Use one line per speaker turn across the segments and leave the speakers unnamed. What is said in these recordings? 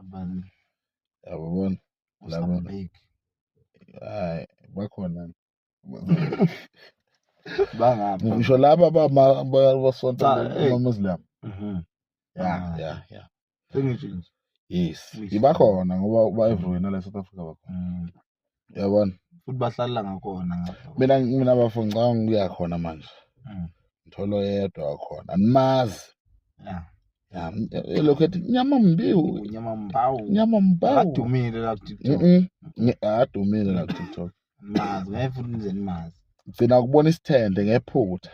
abanye yabona laba hayi
bakhona bangaphi ngisho laba
basonta amamuslim mhm. ya ah. ya ya sengisho nje yes ibakhona ngoba ba-everywhere nala south africa bakhona mm. yabona futhi bahlalela
ngakhona ngapha mina mina bafo
ngicabanga ukuya khona manje Mm. ngithola oyedwa wakhona animazi ya
ya elokhu ethi
nyama mbiwu unyama mbawu nyama
mbawu adumile la kuTikTok Mhm. Nge- adumile
la kutiktok mazi ngeke futhi
nize nimazi gcina ukubona
isithende ngephutha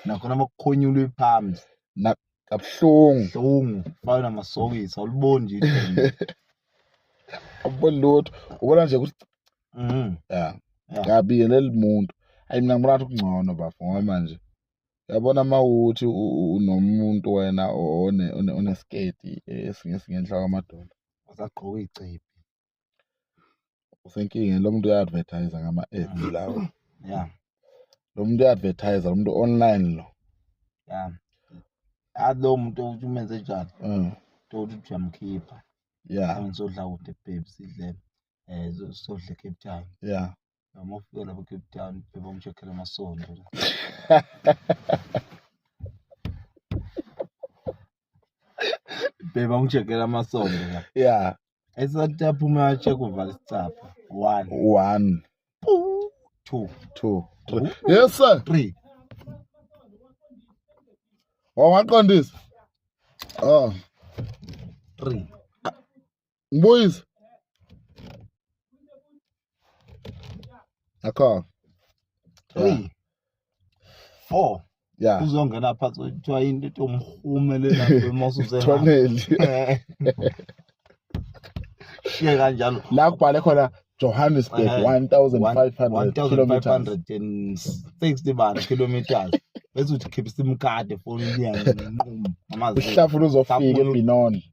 nakhona amakukhonyulwe phambi kabuhlungu hlungu
fana namasokisi
awuliboni nje idini.
awuboni lutho ubona nje ukuthi Mhm. ya Ya. ngiyabingelela umuntu ayi mina ngibona ngathi kungcono bafo ngoba manje yabona uma uthi u- u- unomuntu wena one- one- onesiketi esingenhla kwamadolo Usagqoka
icebi.
usenkinga lo muntu uya-advertise ngama-ads mm. lawo ya
lo muntu
uya-advertise lo muntu online lo ya
athi lowo muntu ukuthi umenze njani mm. tokuthi ukuthi uyamkhipha ya sodla kude bhebhi sidle um sodle cape town ya noma ufike lapho Cape Town beba umshokhela amasondo beba umshokhela amasondo la yeah esathi aphuma atshe kuvala isicapha one one two two three
yes sir three wawaqondisa oh
three
Ngibuyise. Akho. 3
4 Yeah. Uzongena phansi kuthiwa into ethi umhumele lapho emasuze. Toneli. Shiye kanjalo. La kubhale khona
Johannesburg 1560 bani kilometers
bese uthi khipha isimkade efonini yakhe nquma amazi uhlafuna uzofika
ebinoni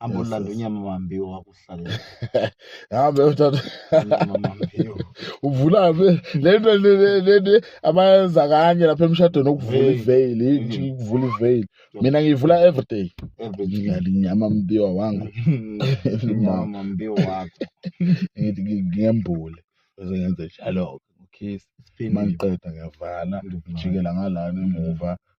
Hamba ulanda unyama mambiwa wakuhlalela. Hambe
uthatha. Unyama mambiwa.
Uvula be
le nto le nto abayenza kanye lapha emshadweni okuvula iveil, inji ukuvula iveil. Mina ngiyivula every day. Every day. Ngidlala inyama mambiwa wangu. Unyama
mambiwa wakho. Ngithi
ngiyembule. Bese ngenze njalo. Kiss. Mangiqeda ngiyavala, ngijikela ngalana emuva.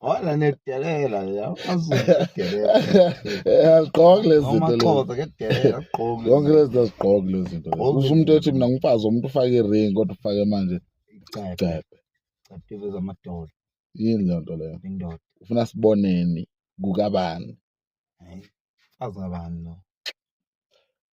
Wala nedelela ya.
Azudelela. Aziqoki lezi zinto. Amaxhoza kedelela
aqoki. Yonke lezi zinto
aziqoki lezi zinto. Usho umuntu ethi mina ngimfazi umuntu ufake iring kodwa ufake manje. Icebe. Icebe. Icebe
zamadola. Yini leyo nto
leyo? Indoda. Ufuna
siboneni
kukabani? Hayi.
Azabani lo.